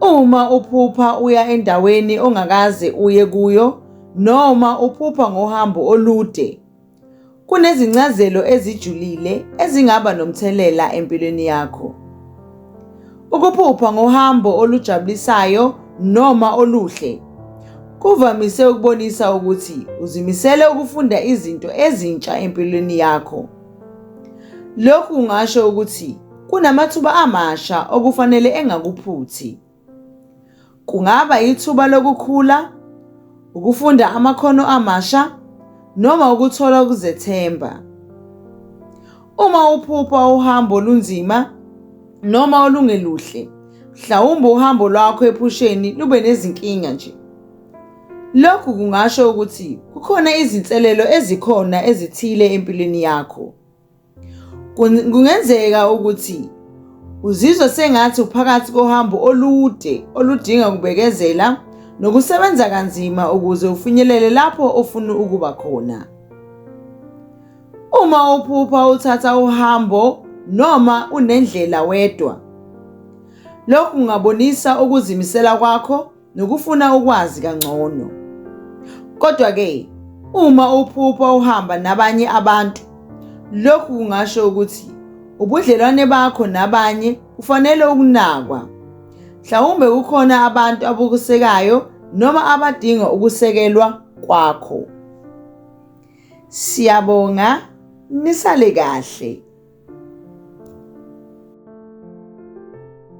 Uma uphupha uya endaweni ongakaze uye kuyo noma uphupha ngohambo olude, kunezincazelo ezijulile ezingaba nomthelela empilweni yakho. Ukuphupha ngohambo olujabulisayo noma oluhle kuvamise ukubonisa ukuthi uzimisele ukufunda izinto ezintsha empilweni yakho. Lokhu kungasho ukuthi Kunamathuba amasha okufanele engakuphuthi. Kungaba ithuba lokukhula, ukufunda amakhono amasha noma ukuthola ukuzethemba. Uma uphupha uhambo olunzima noma olungeluhle, mhlawumbe uhambo lwakho ephusheni lube nezinkinga nje. Lokhu kungasho ukuthi kukhona izinselelo ezikhona ezithile empilweni yakho. Kungenzeka ukuthi uzizwa sengathi uphakathi kohambo olude oludinga ukubekezela nokusebenza kanzima ukuze ufinyelele lapho ofuna ukuba khona. Uma uphupha uthatha uhambo noma unendlela wedwa, lokhu kungabonisa ukuzimisela kwakho nokufuna ukwazi kangcono. Kodwa-ke, uma uphupha uhamba nabanye abantu, lokhu kungasho ukuthi ubudlelwane bakho nabanye ufanele ukunakwa. Mhlawumbe kukhona abantu abukusekayo noma abadinga ukusekelwa kwakho. Siyabonga, nisale kahle.